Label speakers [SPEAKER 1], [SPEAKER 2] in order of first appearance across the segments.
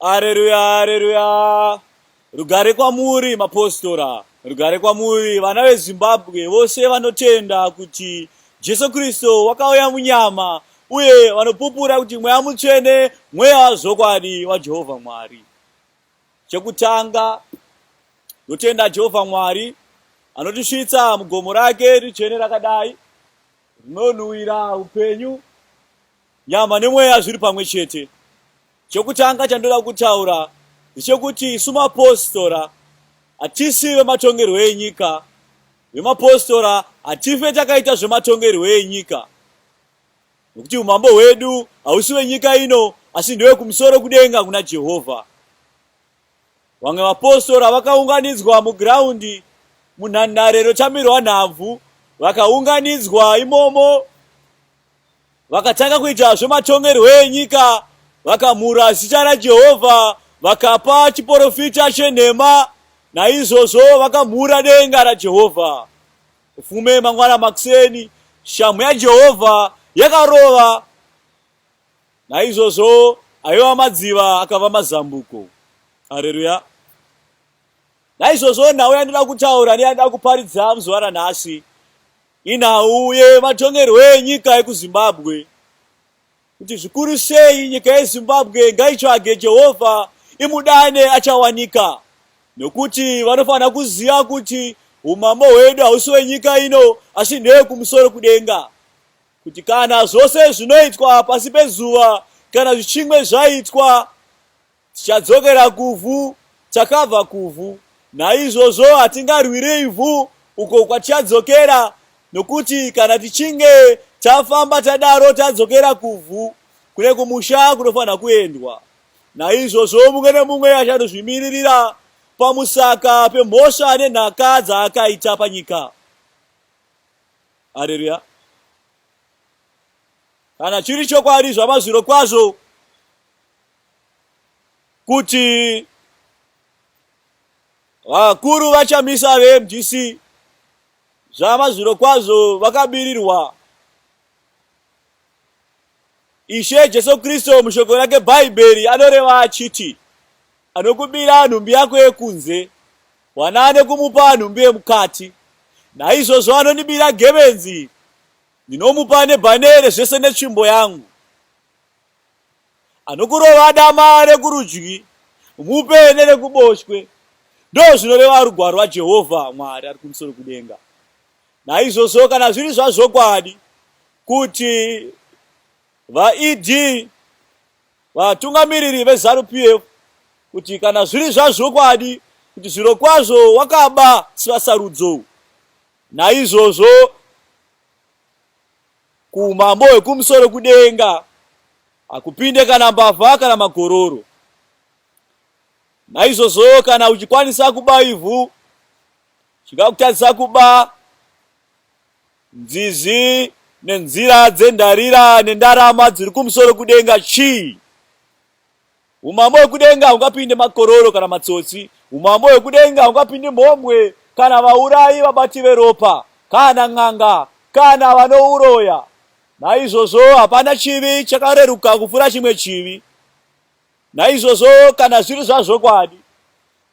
[SPEAKER 1] Haleluya, haleluya. Rugare kwamuri mapostora, rugare kwamuri vana veZimbabwe vose vanotenda kuti Jesu Kristo wakauya munyama uye vanopupura kuti mweya mutsvene mweya wazvokwadi waJehovha Mwari. Chekutanga ndotenda Jehovha Mwari anotisvitsa mugomo rake ritsvene rakadai rinonhuwira upenyu Nyama nemweya zviri pamwe chete. Chokutanga chandoda kutaura ndechekuti isu mapositora hatisi vematongerwo enyika. Vemapositora hatife takaita zvematongerwo enyika, nokuti umambo hwedu hausi wenyika ino, asi ndewe kumusoro kudenga kuna Jehovha. Vamwe vapositora vakaunganidzwa mugiraundi munhandare inotamirwa nhabvu, vakaunganidzwa imomo Vakatanga kuita zvematongerwo enyika, vakamhura zita raJehovha, vakapa chiporofita chenhema, naizvozvo vakamhura denga raJehovha. Ufume mangwana makuseni, shamhu yaJehovha yakarova, naizvozvo aiva madziva akava mazambuko. Hareruya! Naizvozvo nhau yandinoda kutaura neyandinoda kuparidza muzuva ranhasi Inhau yematongerwo enyika ekuZimbabwe kuti zvikuru sei nyika yeZimbabwe ngaitsvage Jehovha imudane achawanika nokuti vanofanira kuziva kuti umambo hwedu hausi wenyika ino asi ndewekumusoro kudenga kuti kana zvose zvinoitwa pasi pezuva kana zvichimwe zvaitwa Tichadzokera kuvhu, takabva kuvhu, naizvozvo hatingarwire ivhu uko kwatichadzokera, nokuti kana tichinge tafamba tadaro tadzokera kuvhu, kune kumusha kunofanira kuendwa. Naizvozvo mumwe nemumwe achanozvimiririra pamusaka pemhosva nenhaka dzaakaita panyika. Haleluya! Kana chiri chokwadi zvamazviro kwazvo kuti vakuru vachamisa vemdc zvamazviro kwazvo vakabirirwa ishe jesu kristu mushoko rake bhaibheri anoreva achiti anokubira nhumbi yako yekunze wana ane kumupa nhumbi yemukati naizvozvo anondibira gebenzi ndinomupa nebhanere zvese netsvimbo yangu Anokurova dama rekurudyi, mupe nerekuboshwe, ndozvinoreva rugwaro rwaJehovha Mwari ari kumusoro kudenga. Naizvozvo kana zviri zvazvokwadi kuti vaED vatungamiriri veZanu PF kuti kana zviri zvazvokwadi kuti zvirokwazvo wakaba sivasarudzo naizvozvo kuumambo hwekumusoro kudenga hakupinde kana mbavha kana magororo. Naizvozvo kana uchikwanisa kuba ivhu, chingakutadzisa kuba nzizi nenzira dzendarira nendarama dziri kumusoro kudenga chii? Umambo hwekudenga haungapinde makororo kana matsotsi. Umambo hwekudenga haungapinde mhombwe kana vaurayi, vabati veropa, kana n'anga, kana vanouroya. Naizvozvo hapana chivi chakareruka kupfuura chimwe chivi. Naizvozvo kana zviri zvazvokwadi,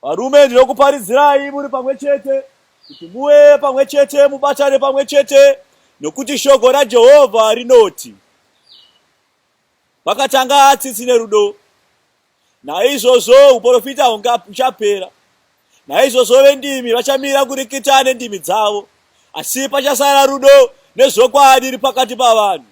[SPEAKER 1] varume, ndinokuparidzirai muri pamwe chete, kuti muve pamwe chete, mubatane pamwe chete, nokuti shoko raJehovha rinoti, Vakatanga tsitsi nerudo, naizvozvo uprofita huchapera. Naizvozvo vendimi vachamira kurikita nendimi dzavo, asi pachasara rudo nezvokwadi iri pakati pavanhu.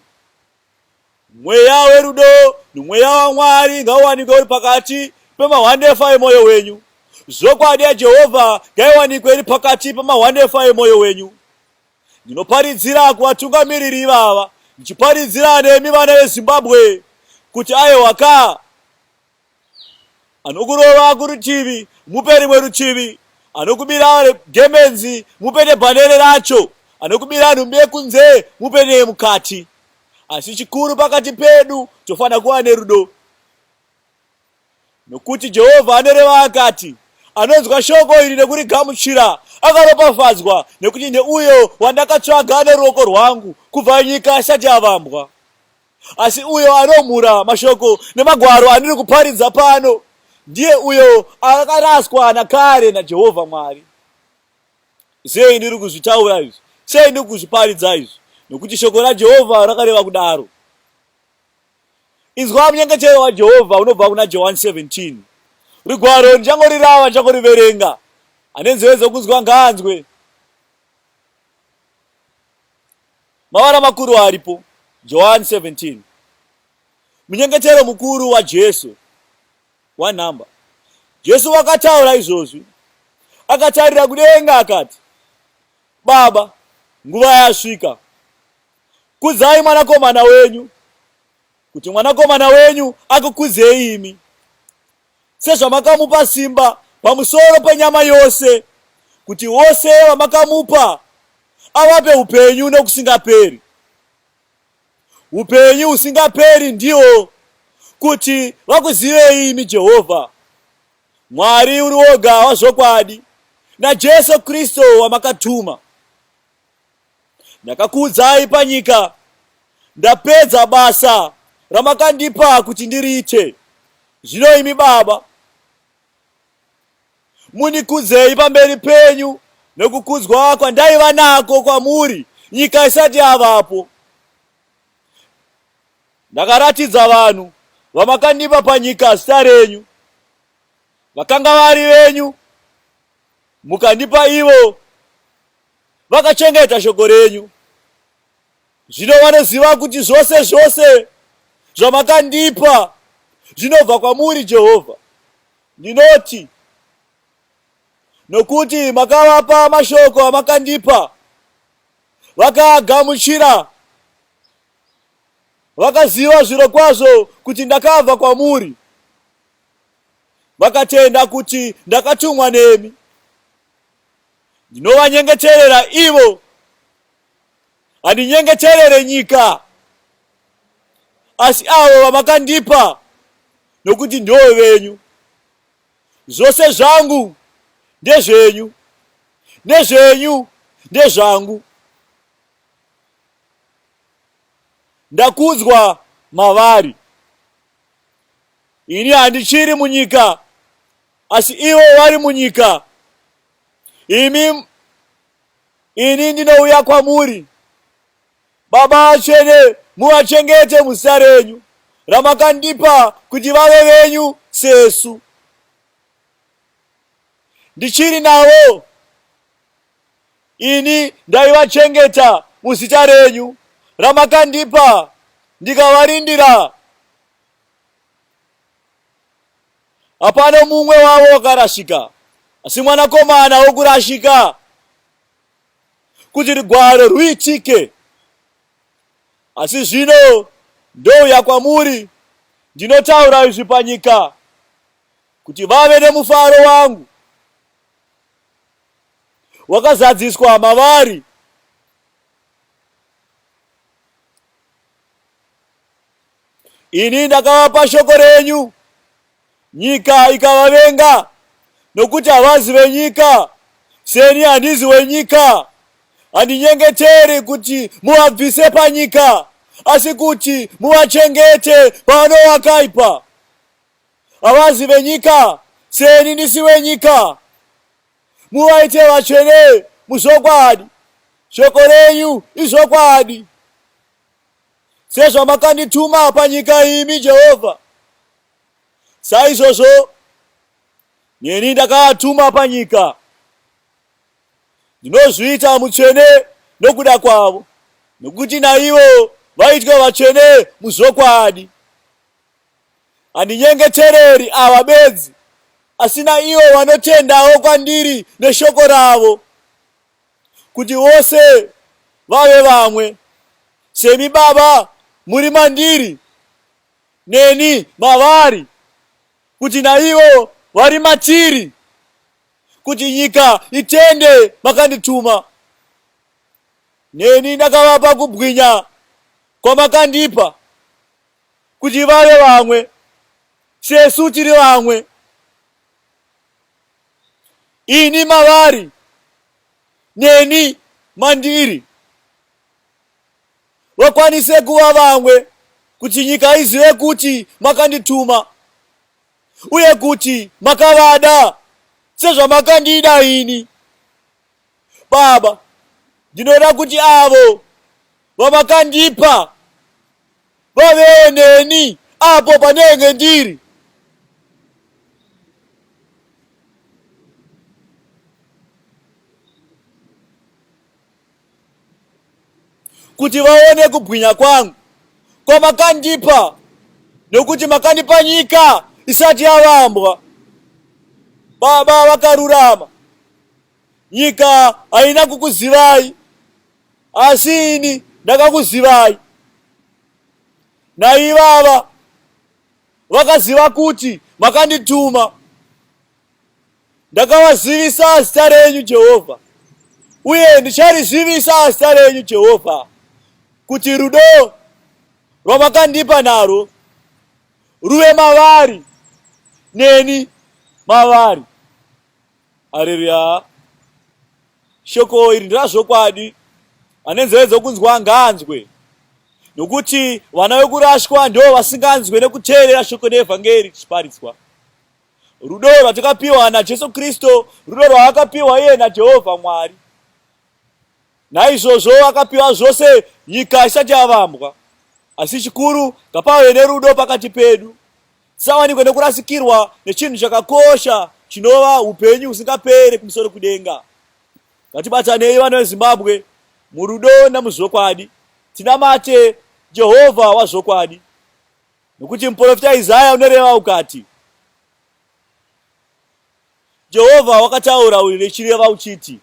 [SPEAKER 1] Mweya werudo nomweya waMwari ngauwanikwe uri pakati pemahwandefa emwoyo wenyu. Zvokwadi yaJehovha ngaiwanikwe iri pakati pemahwandefa emwoyo wenyu. Ndinoparidzira kuvatungamiriri ivava ndichiparidzira nemi vana vezimbabwe kuti ayewa ka anokurova kurutivi mupe rimwe rutivi anokubira gemenzi mupe nebhanere racho anokubira nhumbi yekunze mupe neyemukati asi chikuru pakati pedu tofanira kuva nerudo Nokuti Jehovha anoreva akati, Anonzwa shoko iri nekurigamuchira, akaropafadzwa, nekuti neuyo wandakatsvaga neruoko rwangu kubva nyika isati yavambwa. Asi uyo anomhura mashoko nemagwaro andiri kuparidza pano, ndiye uyo akaraswa nakare naJehovha Mwari. Sei ndiri kuzvitaura izvi? Sei ndiri kuzviparidza izvi? Nokuti shoko raJehovha rakareva kudaro. Inzwa munyengechero waJehovha unobva kuna Johani 17. Rigwaro ndichangorirava, ndichangoriverenga. Ane nzeve dzokunzwa ngaanzwe. Mavara makuru aripo, Johani 17. Munyengechero mukuru waJesu, one number. Jesu wakataura izvozvi, akatarira kudenga akati, Baba, nguva yasvika. Kudzai mwanakomana wenyu, kuti mwanakomana wenyu akukudzei imi, sezvamakamupa simba pamusoro penyama yose, kuti vose vamakamupa avape upenyu nokusingaperi. Upenyu husingaperi ndiwo kuti vakuzivei imi Jehovha, Mwari uri woga wazvokwadi, naJesu Kristu wamakatuma. Ndakakuudzai panyika ndapedza basa ramakandipa kuti ndiriite. Zvino imi Baba, munikudzei pamberi penyu nokukudzwa kwandaiva nako kwamuri nyika isati yavapo. Ndakaratidza vanhu vamakandipa panyika zita renyu, vakanga vari venyu, mukandipa ivo vakachengeta shoko renyu. Zvino vanoziva kuti zvose zvose zvamakandipa zvinobva kwamuri, Jehovha. Ndinoti, nokuti makavapa mashoko amakandipa, vakaagamuchira, vakaziva zviro kwazvo kuti ndakabva kwamuri, vakatenda kuti ndakatumwa nemi. Ndinovanyengeterera ivo, handinyengeterere nyika, asi avo vamakandipa, nokuti ndivo venyu. Zvose zvangu ndezvenyu, nezvenyu ndezvangu. Ndakudzwa mavari. Ini handichiri munyika, asi ivo vari munyika, imi ini ndinouya kwamuri baba atsvene muvachengete muzita renyu ramakandipa kuti vave venyu sesu ndichiri navo ini ndaivachengeta muzita renyu ramakandipa ndikavarindira Hapana mumwe wavo wakarasika, asi mwanakomana wokurashika, kuti rugwaro rwuitike. Asi zvino ndouya kwamuri, ndinotaura izvi panyika, kuti vave nemufaro wangu wakazadziswa mavari. Ini ndakavapa shoko renyu, nyika ikavavenga, nokuti havazi venyika, seni handizi wenyika. Handinyengeteri kuti muvabvise panyika, asi kuti muvachengete pano wakaipa. Havazi venyika, seni ndisi wenyika. Muvaite vatsvene muzvokwadi, shoko renyu izvokwadi. Sezvamakandituma panyika imi Jehovha, saizvozvo neni ndakaatuma panyika. Ndinozviita mutsvene nokuda kwavo, nokuti naivo vaitwa vatsvene muzvokwadi. Handinyengetereri ava bedzi, asi naivo vanotendawo kwandiri neshoko ravo. kuti vose vave vamwe semi baba muri mandiri neni mavari kuti naivo vari matiri kuti nyika itende makandituma neni ndakavapa kubwinya kwamakandipa kuti vave vamwe sesu tiri vamwe ini mavari neni mandiri vakwanise kuva vamwe kuti nyika izive kuti makandituma uye kuti makavada sezvamakandida ini Baba, ndinoda kuti avo vamakandipa vavewo neni apo panenge ndiri. Kuti vaone kubwinya kwangu kwamakandipa, nokuti makandipa nyika isati yavambwa. Baba vakarurama nyika haina kukuzivai asi ini ndakakuzivai naivava vakaziva kuti makandituma ndakavazivisa zita renyu jehovha uye ndicharizivisa zita renyu jehovha kuti rudo rwamakandipa narwo ruve mavari neni mavari Haleluya. Shoko iri ndirazvokwadi. Ane nzeve dzokunzwa ngaanzwe. Nokuti vana vekurashwa ndivo vasinganzwe nekuteerera shoko reevhangeri tichiparitswa. Rudo rwatakapiwa naJesu Kristo, rudo rwaakapiwa iye naJehovha Mwari. Naizvozvo akapiwa zvose nyika isati yavambwa. Asi chikuru ngapave nerudo pakati pedu. Tisawanikwe nekurasikirwa nechinhu chakakosha chinova upenyu husingapere kumusoro kudenga. Ngatibatanei vana veZimbabwe murudo namuzvokwadi, tinamate Jehovha wazvokwadi, nokuti muprofita Isaya unoreva ukati, Jehovha wakataura uyu nechireva uchiti,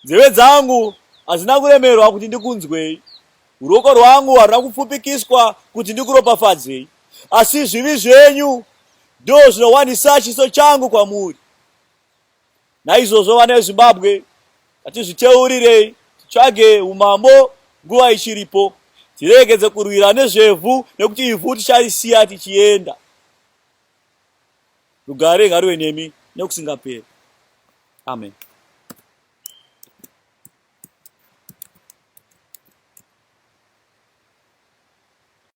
[SPEAKER 1] Nzeve dzangu hadzina kuremerwa kuti ndikunzwei, ruoko rwangu haruna kupfupikiswa kuti ndikuropafadzei, asi zvivi zvenyu ndoo zvinowanisa chiso changu kwamuri. Naizvozvo vana veZimbabwe, ngatizviteurirei, titsvage umambo nguva ichiripo, tiregedze kurwira nezvevhu nekuti ivhu ticharisiya tichienda. Rugare ngaruve nemi nekusingaperi. Amen.